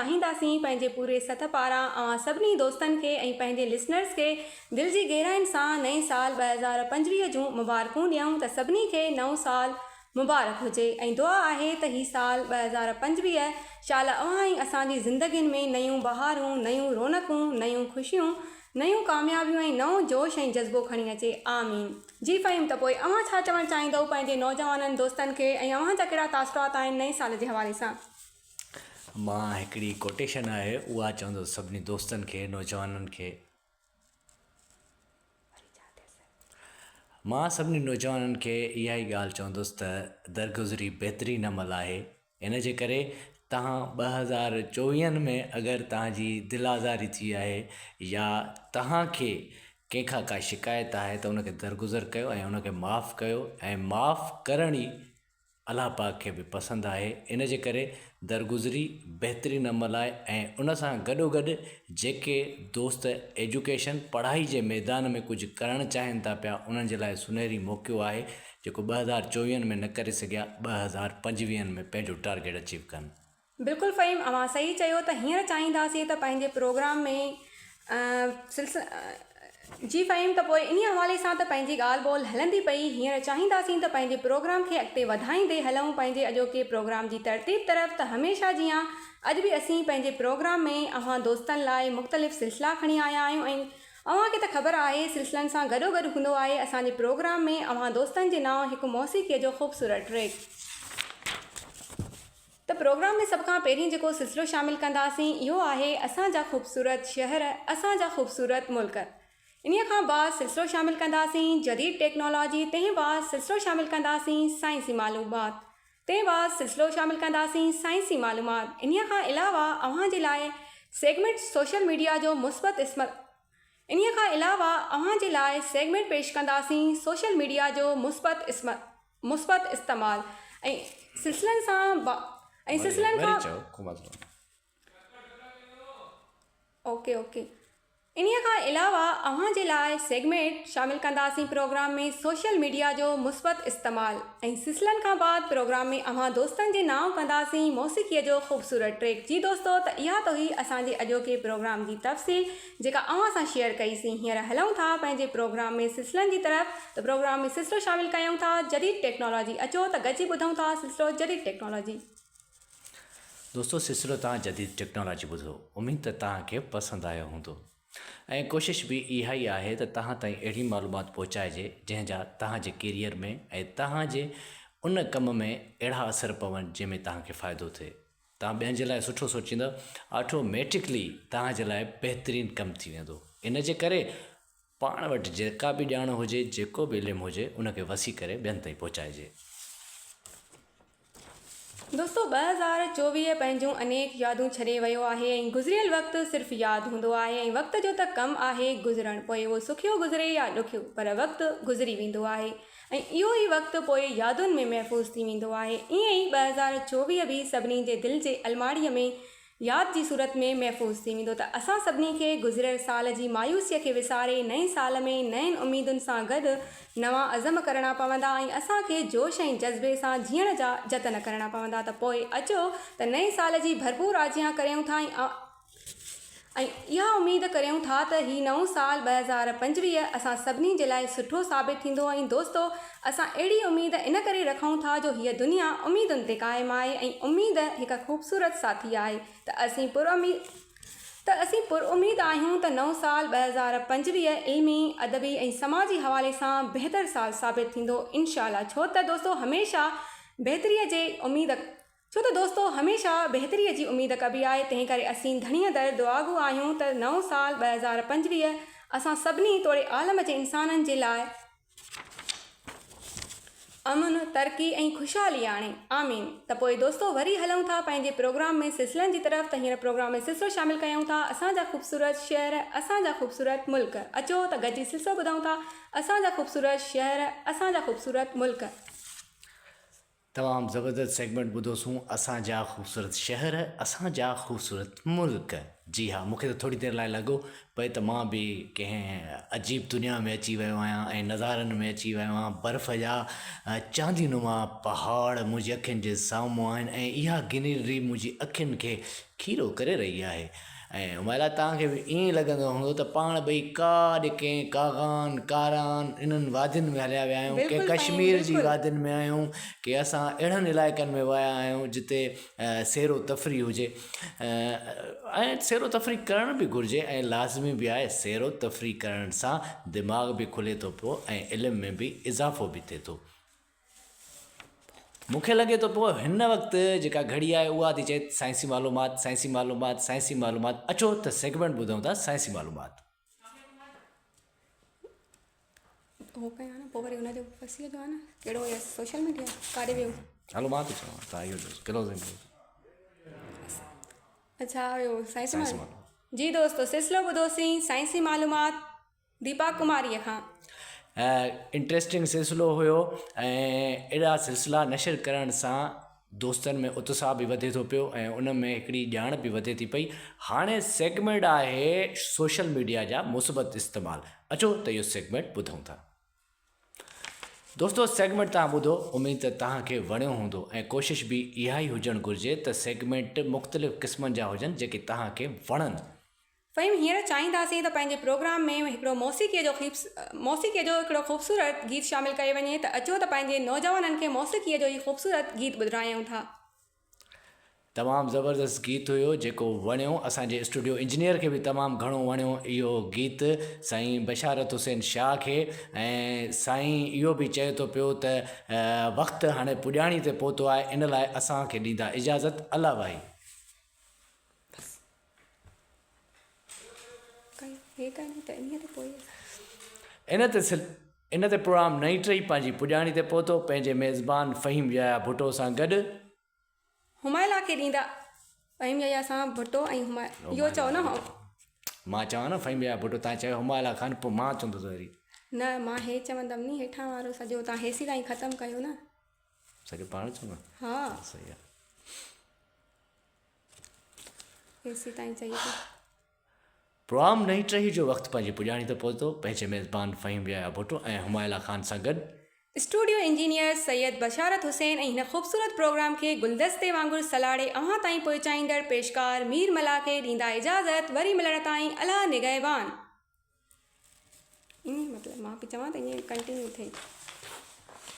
چاهينداسين پنهنجي پوري سٿ پاران اوهان سڀني دوستن کي ۽ پنهنجي لسنرز کي دل جي گهرائين سان نئين سال ٻه هزار پنجويهه جون مبارڪون ڏيون ته سڀني کي نئون سال مبارڪ هجي ۽ دعا آهي ته هي سال ٻه هزار پنجويهه شالا اوهان ۽ اسان جي زندگين ۾ نيون بهارون نيون رونقون نيون خوشيون نيون ڪاميابيون ۽ نئون جوش ۽ جذبو کڻي اچي آمين. جي فهيم ته پوء اوهان ڇا چوڻ چاهيندؤ پنهنجي نوجوانن دوستن کي ۽ اوهان جا ڪهڙا تاثرات آهن نئين سال جي حوالي سان. مان هڪڙي ڪوٽيشن آهي اها چوندس سڀني دوستن کي نوجوانن کي مان سڀني نوجوانن کي اها ئي ڳالهه چوندس ته درگذري بهترين عمل آهي ان جي ڪري تهان ٻه هزار چوويهن ۾ اگر تهان جي دل آزاري ٿي آهي يا تهان کي ڪنهن کان ڪا شڪايت آهي ته ان کي درگذر ڪيو ۽ ان کي معاف ڪيو ۽ معاف ڪرڻ ئي الله پاڪ کي به پسند آهي ان جي ڪري درگذري بهترين عمل آهي ۽ ان سان گڏوگڏ جيڪي دوست ايجوڪيشن پڙهائي جي ميدان ۾ ڪجهه ڪرڻ چاهين ٿا پيا انهن جي لاء سنهري موقعو آهي جيڪو ٻه هزار چوويهن ۾ نه ڪري سگهيا ٻه هزار پنجويهن ۾ پنهنجو ٽارگيٽ اچيو ڪن. بلڪل فھيم اوھان صحيح چيو ته ھينئر چاھينداسين ته پنھنجي پروگرام ۾ جي فھيم ته پوء انھي حوالي سان ته پنھنجي ڳالھ ٻولھ ھلندي پئي ھينئر چاھينداسين ته پنھنجي پروگرام کي اڳتي وڌائيندي ھلئون پنھنجي اڄوڪي پروگرام جي ترتيب طرف ته ھميشه جيان اڄ به اسين پنھنجي پروگرام ۾ اوھان دوستن لاء مختلف سلسلا کڻي آيا آھيون ۽ اوھان کي ته خبر آھي سلسلن سان گڏو گڏ ھوندو آھي اسان جي پروگرام ۾ اوھان دوستن جي نانء ھڪ موسيقي جو خوبصورت ٽريڪ ته پروگرام ۾ سڀ کان پهرين جيڪو سلسلو شامل ڪنداسين اهو آهي اسان جا خوبصورت شهر اسان جا خوبصورت ملڪ انهي کان بعد سلسلو شامل ڪنداسين جديد ٽيڪنالاجي تنهن بعد سلسلو شامل ڪنداسين سائنسي معلومات تنهن بعد سلسلو شامل ڪنداسين سائنسي معلومات انهي کان علاوه اوهان جي لاء سيگمينٽ سوشل ميڊيا جو مثبت اسمت انهي کان علاوه اوهان جي لاء سيگمينٽ پيش ڪنداسين سوشل ميڊيا جو مثبت اسمت مثبت استعمال ۽ سلسلن سان ۽ سلسلن کان انهيء کان علاوه اوهان جي لاء سيگمينٽ شامل ڪنداسين پروگرام ۾ سوشل ميڊيا جو مثبت استعمال ۽ سلسلن کان بعد پروگرام ۾ اوهان دوستن جي نانء ڪنداسين موسيقي جو خوبصورت ٽريڪ جي دوستو ته اها توهي اسان جي اڄوڪي پروگرام جي تفصيل جيڪا اوهان سان شيئر ڪئي سين هينئر هلئون ٿا پنهنجي پروگرام ۾ سلسلن جي طرف ته پروگرام ۾ سلسلو شامل ڪيئون ٿا جديد ٽيڪنالاجي اچو ته گڏجي ٻڌئون ٿا سلسلو جديد ٽيڪنالاجي. دوستو سلسلو توهان جديد ٽيڪنالاجي ٻڌو اميد ته توهان کي پسند آيو هوندو ۽ ڪوشش به اها ئي آهي ته توهان تائين اهڙي معلومات پهچائجي جنهن جا توهان جي ڪيريئر ۾ ۽ توهان جي ان ڪم ۾ اهڙا اثر پون جنهن ۾ توهان کي فائدو ٿئي. توهان ٻين جي لاء سٺو سوچيندا آٽوميٽڪلي توهان جي لاء بهترين ڪم ٿي ويندو ان جي ڪري پاڻ وٽ جيڪا به ڄاڻ هجي جيڪو به علم هجي ان کي وسيع ڪري ٻين تائين پهچائجي. دوستو ٻه هزار چوويهه پنهنجون انيڪ يادون ڇڏي ويو آهي ۽ گذريل وقت صرف ياد هوندو آهي ۽ وقت جو ته ڪم آهي گذرڻ پوء اهو سکيو گذري يا ڏکيو پر وقت گذري ويندو آهي ۽ اهو ئي وقت پوء يادن ۾ محفوظ ٿي ويندو آهي. ائين ئي ٻه هزار چوويهه به سڀني جي دل جي الماڙيء ۾ ياد جي صورت ۾ محفوظ ٿي ويندو ته اسان سڀني کي گذريل سال جي مايوسيء کي وساري نئين سال ۾ نين اميدن سان گڏ نوان عزم ڪرڻا پوندا ۽ اسان کي جوش ۽ جذبي سان جيئڻ جا جتن ڪرڻا پوندا ته پوء اچو ته نئين سال جي ڀرپور آجيان ڪريون ٿا ۽ ۽ اها اميد ڪريون ٿا ته هي نئون سال ٻه هزار پنجويهه اسان سڀني جي لاء سٺو ثابت ٿيندو ۽ دوستو اسان اهڙي اميد ان ڪري رکون ٿا جو هيء دنيا اميدن تي قائم آهي ۽ اميد هڪ خوبصورت ساٿي آهي ته اسين پراميد آهيون ته نئون سال ٻه هزار پنجويهه علمي، ادبي ۽ سماجي حوالي سان بهتر سال ثابت ٿيندو انشاء الله ڇو ته دوستو هميشه بهتري جي اميد. ڇو ته دوستو هميشه بهتريء جي اميد ڪبي آهي تنهن ڪري اسين ڌڻيء در دعاگو آهيون ته نئون سال ٻه هزار پنجويهه اسان سڀني توڙي عالم جي انسانن جي لاء امن، ترقي ۽ خوشحالي آڻي. آمين. ته پوء دوستو وري هلون ٿا پنهنجي پروگرام ۾ سلسلن جي طرف ته هينئر پروگرام ۾ سلسلو شامل ڪيون ٿا اسان جا خوبصورت شهر اسان جا خوبصورت ملڪ اچو ته گڏجي سلسلو ٻڌون ٿا اسان جا خوبصورت شهر اسان جا خوبصورت ملڪ. تمام زبردست سيگمينٽ ٻڌو سون اسان جا خوبصورت شهر اسان جا خوبصورت ملڪ جي ها مونکي ته ٿوري دير لاء لڳو پئي ته مان به ڪنهن عجيب دنيا ۾ اچي ويو آهيان ۽ نظارن ۾ اچي ويو آهيان برف جا چاندي نما پهاڙ منهنجي اکين جي سامهون آهن ۽ اها گرينري منهنجي اکين کي کيرو ڪري رهي آهي ۽ ان لاء توهان کي به ائين ئي لڳندو هوندو ته پاڻ ٻئي ڪاڏ ڪنهن ڪاغان، ڪاران، انهن وادين ۾ هليا ويا آهيون، ڪنهن ڪشمير جي وادين ۾ آهيون، ڪي اسان اهڙن علائقن ۾ ويا آهيون جتي سير و تفريح هجي ۽ سير و تفريح ڪرڻ به گهرجي ۽ لازمي به آهي، سير و تفريح ڪرڻ سان دماغ به کلي ٿو پيو ۽ علم ۾ به اضافو به ٿئي ٿو. مون کي لڳي ٿو پيو هن وقت جيڪا گهڙي آهي اها ٿي چئي سائنسي معلومات سائنسي معلومات سائنسي معلومات اچو ته سيگمنٽ ٻڌون ٿا سائنسي معلومات هو ڪيا نه پوء وري ان جو فصيح جو آ نه ڪهڙو هي سوشل ميڊيا ڪاري ويو هلو مان ٿو چوان ته ايو جو ڪلوزنگ اچھا ايو سائنسي معلومات جي دوستو سلسلو ٻڌوسين سائنسي معلومات ديپا ڪماريء کان. انٽريسٽنگ سلسلو هيو ۽ اهڙا سلسلا نشر ڪرڻ سان دوستن ۾ اتساهه به وڌي ٿو پيو ۽ ان ۾ هڪڙي ڄاڻ به وڌي ٿي پئي هاڻي سيگمينٽ آهي سوشل ميڊيا جا مثبت استعمال اچو ته اهو سيگمينٽ ٻڌون ٿا دوستو سيگمينٽ تان ٻڌو اميد ته تهان کي وڻيو هوندو ۽ ڪوشش به اها ئي هجڻ گهرجي ته سيگمينٽ مختلف قسمن جا هجن جيڪي تهان کي وڻن فھيم ھينئر چاھينداسين ته پنھنجي پروگرام ۾ ھڪڙو موسيقيء جو موسيقيء جو ھڪڙو خوبصورت گيت شامل ڪيو وڃي ته اچو ته پنھنجي نوجوانن کي موسيقيء جو ھي خوبصورت گيت ٻڌرايون ٿا. تمام زبردست گيت ھيو جيڪو وڻيو اسان جي اسٽوڊيو انجنيئر کي به تمام گھڻو وڻيو اھو گيت سائين بشارت حسين شاھ کي ۽ سائين اھو به چئي ٿو پيو ته وقت ھاڻي پڄاڻي تي پھتو آھي ان لاء اسان کي ڏيندا اجازت الله وائي. ان تي پروام نئين ٽري پنهنجي پڄاڻي تي پهتو پنهنجي ميزبان فهيم يحيٰ ڀٽو سان گڏ. همايلا کي ڏيندا فهيم يحيٰ سان ڀٽو ۽همايلا. مان چوان نه فهيم يحيٰ ڀٽو تان چيو همايلا کان پوء مان چوندس وري. نه مان هي چوندم ني هيٺان وارو سڄو تان هيسي تائين ختم ڪيو نه. سڄو پاڻ چوندو. ها. صحيح آ. ايسي تائين چئي ٿي. پروام نئين ٽهي جو وقت پنهنجي پڄاڻي تي پهتو، پنهنجي ميزبان فهيم يحيٰ ڀٽو ۽ همايلا خان سان گڏ، اسٽوڊيو انجنيئر سيد بشارت حسين ۽ هن خوبصورت پروگرام کي گلدستي وانگر سلاڙي اوهان تائين پهچائيندڙ پيشڪار مير ملاح کي ڏيندا اجازت وري ملڻ تائين الله نگهبان. ايئن مطلب مان پئي چوان ته ايئن ڪنٽينيو ٿئي.